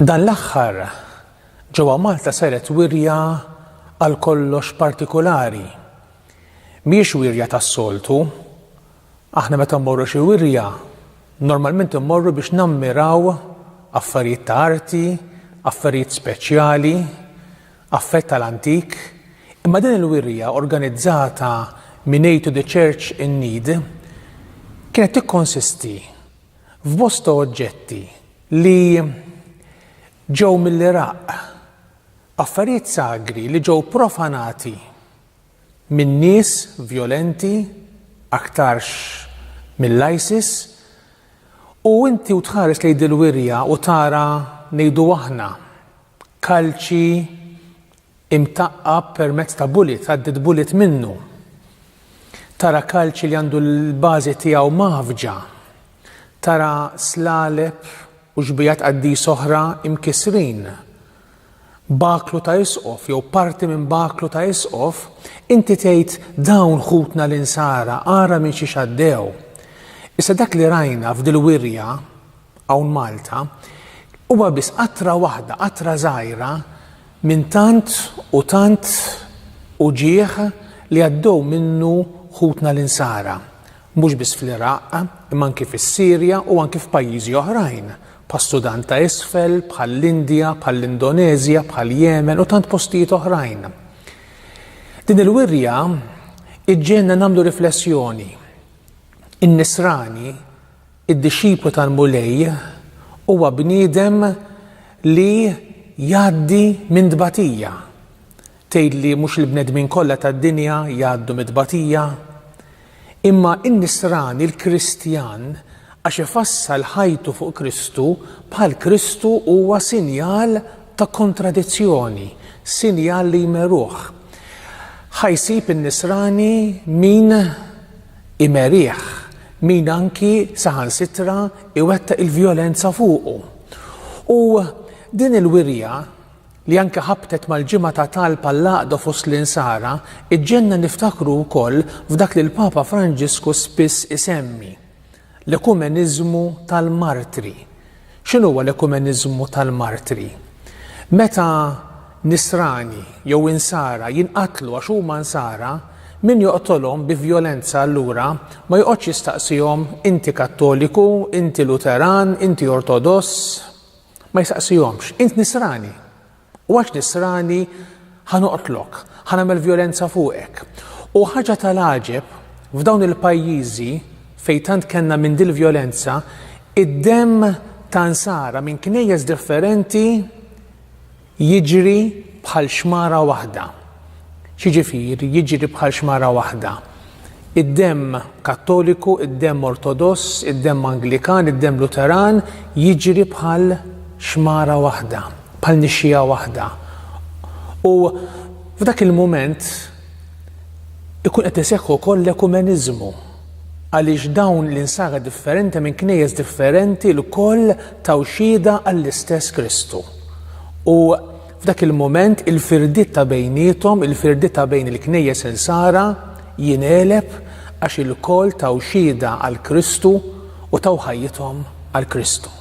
Dan l-aħħar ġewwa Malta saret wirja għal kollox partikulari. Mhijiex wirja tas-soltu. Aħna meta mmorru xi wirja, normalment immorru biex nammiraw affarijiet ta' arti, affarijiet speċjali, affett tal-antik, imma din il-wirja organizzata minn Aid to the Church in Need kienet tikkonsisti f'bosta oġġetti li ġew mill-Iraq, affarijiet sagri li ġew profanati minn nies vjolenti aktarx mill-ISIS u inti u tħares lejn dil-wirja u tara ngħidu aħna Kalċi imtaqqab permezz ta' bullet, għaddiet bullet minnu. Tara kalċi li għandu l-bażi tiegħu maħfġa. Tara slaleb u xbijat qaddis oħra imkisrin. Baklu ta' isqof jew parti minn baklu ta' isqof, inti tgħid dawn ħutna l-insara ara minn xi xaddew. Issa dak li rajna f'dil-wirja hawn Malta, huwa biss qatra waħda, qatra żgħira minn tant u tant uġigħ li għaddew minnu ħutna l-Insara, mhux biss fl-Iraq, imma anki fis-Sirja u anki f'pajjiżi oħrajn, bħas-Sudan ta' Isfel, bħall-Indja, bħall-Indoneżja, bħall-Jemen u tant postijiet oħrajn. Din il-wirja iġġegħelna nagħmlu riflessjoni. In-Nisrani Id-dixxiplu tal-Mulej huwa bniedem li jgħaddi minn tbatija. Tgħid li mhux il-bnedmin kollha tad-dinja jgħaddu mit-tbatija? Imma n-nisrani, l-Kristjan, għax ifassal ħajtu fuq Kristu, bħal Kristu huwa sinjal ta' kontradizzjoni, sinjal li jmeruh. Ħa jsib in-nisrani min imerih min anki saħansitra jwettaq il-vjolenza fuqu. U din il-wirja, li anki ħabtet mal-Ġimgħa ta' Talb għall-Għaqda fost l-Insara, iġġenna niftakru wkoll f'dak li l-Papa Franġisku spiss isemmi, L-ekumeniżmu tal-martri. X'inhuwa l-ekumeniżmu tal-martri? Meta Nisrani jew Insara jinqatlu għax huma Nsara, min joqtolhom bi vjolenza allura ma joqgħodx jistaqsihom inti Kattoliku, inti Luteran, inti Ortodoss. Ma jistaqsihomx. Int Nisrani? U għax Nisrani, ħa noqtlok, ħa nagħmel vjolenza fuqek. U ħaġa tal-għaġeb, f'dawn il-pajjiżi fejn tant kellna minn dil-vjolenza, id-demm ta' Nsara minn knejjes differenti jiġri bħal xmara waħda. X'jiġifieri jiġri bħal xmara waħda? Id-demm Kattoliku, id-demm Ortodoss, id-demm Anglikan, id-demm Luteran jiġri bħal xmara waħda, bħal nixxiegħa waħda. U f'dak il-mument ikun qed iseħħ ukoll l-ekumeniżmu għaliex dawn l-insara differenti minn knejjes differenti lkoll taw xhieda għall-istess Kristu. U F'dak il-mument il-firdiet ta' bejniethom, il-firdiet ta' bejn il-Knejjes Insara, jingħeleb għax ilkoll taw xhieda għal Kristu u taw ħajjithom għal Kristu.